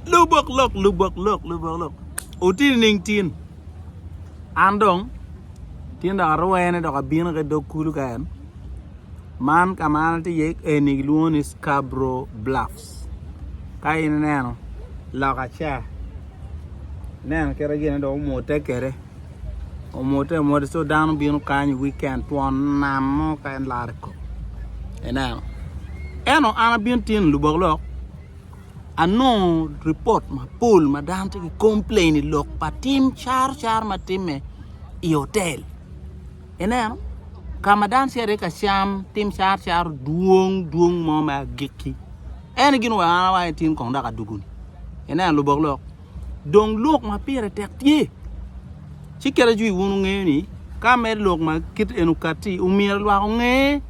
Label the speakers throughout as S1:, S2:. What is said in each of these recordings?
S1: Lubok lok, lubok lok, lubok lok. Oti nining tin? An dong tin dok arwene dok abino ki dog kulu ka en. Man ka ma an atye iye eni gilwongo ni Scarborough Bluffs. Ka in ineno loka ca, ineno kite gine dong omute kwede. Omute amota so dano bino kany i wikend twon nam mo ka en laro i kome. Ineno? Eno an abino tin lubok lok. anongo ripot mapol ma dano tye ki complain i lok pa tim caro car ma timme i otel ineno ka ma dano tye iye ka cam tim caro caro dwong dwong mo me agikki eno gin wek an awaco ni tin kong dok adwogo ni ineno lubok lok. Dong lok ma pire tek tye, ci kite jwi wun wungeyo ni ka mere lok ma kit eni okatti, omyero lwak onge,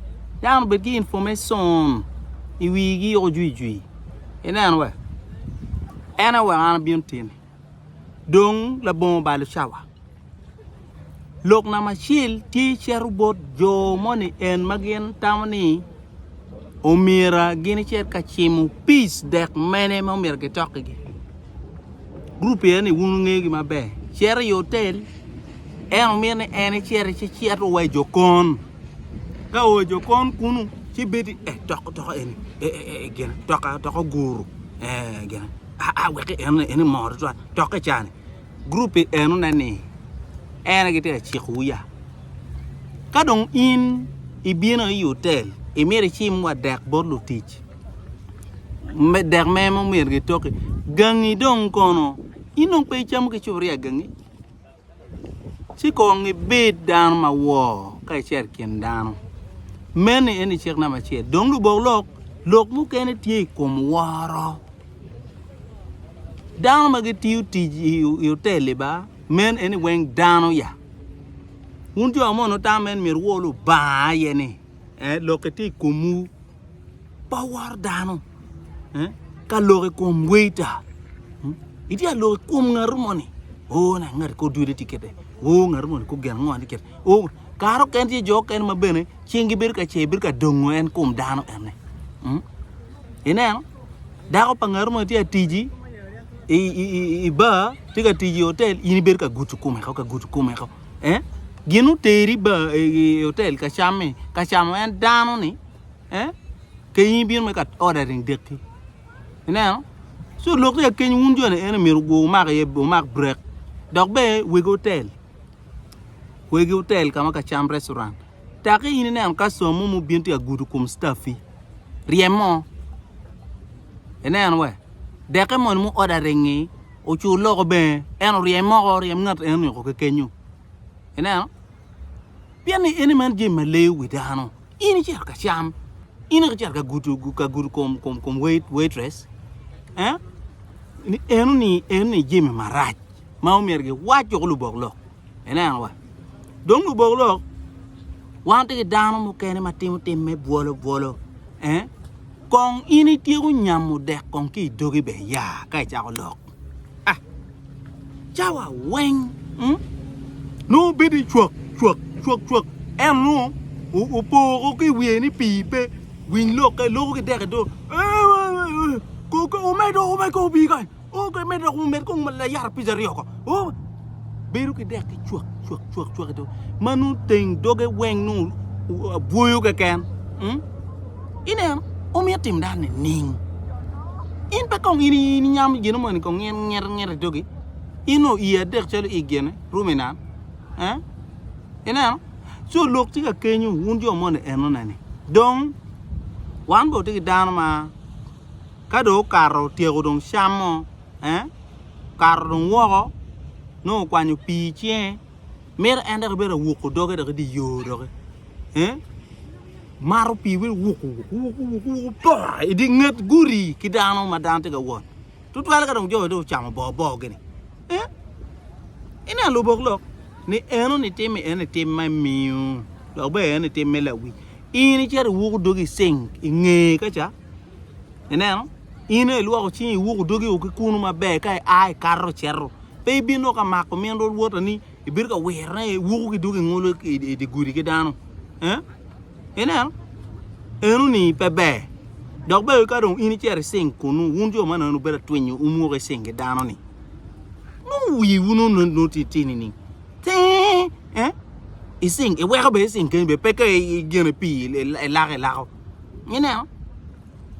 S1: dano obed ki information i wigi yoko jwijwi. Ineno we? En aye weko an abino timi. Dong labongo balo cawa. Lok namba acel tye cito bot jo moni en ma gin tamo ni omyera gin icit ka cimo peace dek mene ma omyero gitokkigi. Group eni wun wungegi maber. Cito i hotel en omyero ni en icito ci cit o wa i jokon. Ka o i jokon kunu ci bedo ni eh toko toko eni eh eh eh gin toko toko guru eh gin ah ah wek en en mor twatwal tokke cani. Gurup pi enone ni, En aye gitye ka cikowu ya. Ka dong in ibino i otel, imito icim wa dek bot lutic, dek me ma myero gitoki. Gangi dong kono? In dong pe icamo ki cupuria gangi? Ci kong ibed dano ma wor ka icito i kin dano. Meni eni cik namba acel. Dong lubok lok, lok mukene tye i kom woro. Dano ma gitiyo tic i otel-li ba, meno en ni weng dano ya. Wun jo ma onongo tamo meno myero wuo Lubanga aye ni Lok-ki tye i komwu, pe wuworo dano. Ka lok i kom weita, itye ka lok i kom ngatu moni, 'Oo, ngati kor dude tye kiti, oo ngati moni kor gin ango tye kiti. Kare okene tye jo okene ma bene cinggi bedo ka cer bedo ka dongo en kom dano ene. Mm? Ineno? Dako pa ngaro mo tye atiji i, i, i, i bar, tye ka tiji i hotel, in ibedo ka gutu kome ko, ka gutu kome ko. Eh? Gin oteri bar i, i, i hotel ka cammi, ka camo en dano ni. Eh? Ke in ibino me ka ordering dekki. Ineno? So lok tye ka keny wun joni ene myero gu- umak iye, umak break. Dok be weg hotel. kwegi otel ka ma ka cam, restaurant. Taki in ineno customer mo mubin tye ka gudo kom staffi, ryem mo. Ineno we? Dekke moni mu order ringi, ocu loko bene, en oryem moko, oryem ngat enoni oko kekenyo. Ineno? Pien ni eni man jami ma leyo wi dano. In icito ka cam, in iko icito ka gudo, ka gudo kom, kom, kom wait, waitress. Eh? Ni enoni, enoni jami marac. ma omyero giwac woko lubok lok. Ineno wa. Dong lubok lok wan tye ki dano mukene ma timo tim me bwolo bwolo. Eh? Kong in ityeko nyamo dek kong ki idogi be ya ka icako lok. Ah. Cawa weng. Hmm? Nu bedi cwak cwak cwak cwak. En nu upoko ki wiye ni pi pe winy lok ka loko ki dek do. Eh, eh, eh, eh. Ko ko omedo omedo ko bi kany. Oo kadi medo dok wumed kong layat apic aryo oko. Oo bedo ki dek ki cwak cwak cwak cwak ito. Ma nung teng doge weng nung bwoyo keken. Hmm? Ineno, omiyo tim dan ni ning. In pe kong in in inyam gino moni kong ngir ngir ngir itogi. In o i adek calo i gene rume nan. Eh? Ineno? So lok ci ka kenyu wun jo moni enone ni. Dong wan bo tigi dano ma ka dong okato otyeko dong cammo ee okato dong woko nongo okwanyo pii icinge mito en dok ibed awuko doge dok idye yo doki ee mato pii wek iwuku wuku wuku wuku wuku pooh idye nget gudi ki dano ma dano tye ka wot tutwale ka dong jo-ni dong ocamo bor bor gini ee ine aye lubok lok ni enoni tim ni enoni tim ma imiyo dok bene enoni tim me lawic in icito iwuku dogi ceng inge kaca Ineno? In aye ilwoko cingi, iwuko dogi o ki kunu maber, ka ia ikato icito. Pe ibino ka mako min rwot-rwota ni ibedo ka wirone, iwuko ki dogi ingolo i dye gudi ki dano. Eh? Ineno? Eno-ni pe ber. Dok bene ka dong in icito icing kunu, wun jo manoni wubedo atwinyo wumoko icing ki dano-ni. Nongo wiwu nongo tye tye nining? Tee! Eh? Icing, iweko bene icing keni bene, pe ka igene pii ilako ilako. Ineno?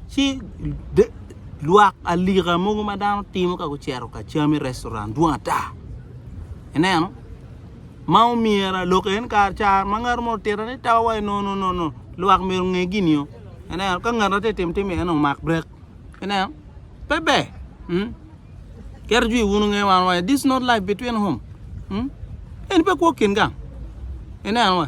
S1: Ci lwak alika mogo ma dano timo ka gucito ka cam i restaurant dwong ata. Ineno? Ma omyera lok en kar car ma ngat mo otito ni tawa wai no no no no lwak myero nge gini yo. Ineno? Ka ngat ati tim tim en omak brek. Ineno? Pe ber. Mm. Kero jwi wunu nge wan wai this not life between home. Mm. En pe kwo kin gang. Ineno wa.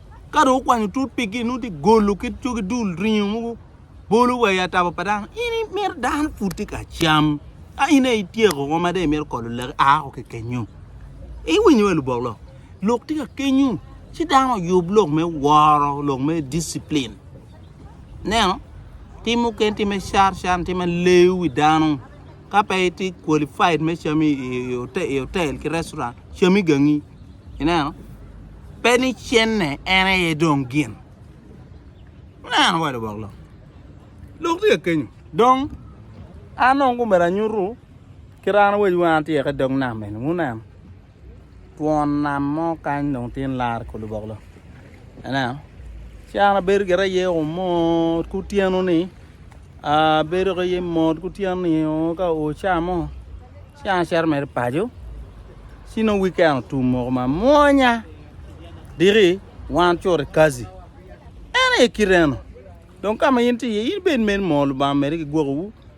S1: Ka dong wukwanyo tut pigi, nongo tye golo ki cogi dul ringo mogo bolo wa i atabo pa dano. In imito dano pud tye ka cam, ka in aye ityeko woko ma dong imito kolo laki, a woko ki kenyu. Iwinyo wa lubok lok? Lok tye ka kenyu, ci dano oyub lok me woro, lok me disciplin. Ineno? Tim mukene tye me car car, tye ma leyo wi dano. Ka pe itye qualified me cam i otel ki restaurant, cami gangi. Ineno? Pe ni cenne en aye dong gin. Ineno bot lubok lok. Lok tye ka kenyo. Dong, an dong myero anyutu kit an awacwu an atyeka i dog nam eni. Wuneno? twon nam mo kany dong tye ni laro ikor luboklo ineno caro bedo gire aye oo mot ki otyeno ni bedo ki aye mot ki otyeno ni oo ka oo ca mo ci an acito mere paco ci nongo wiken otum moko ma mwonya diki wan ocuto i kaci en aye kite eno dong kama in tye iye in bed mere moo lubanga omede ki gwokowu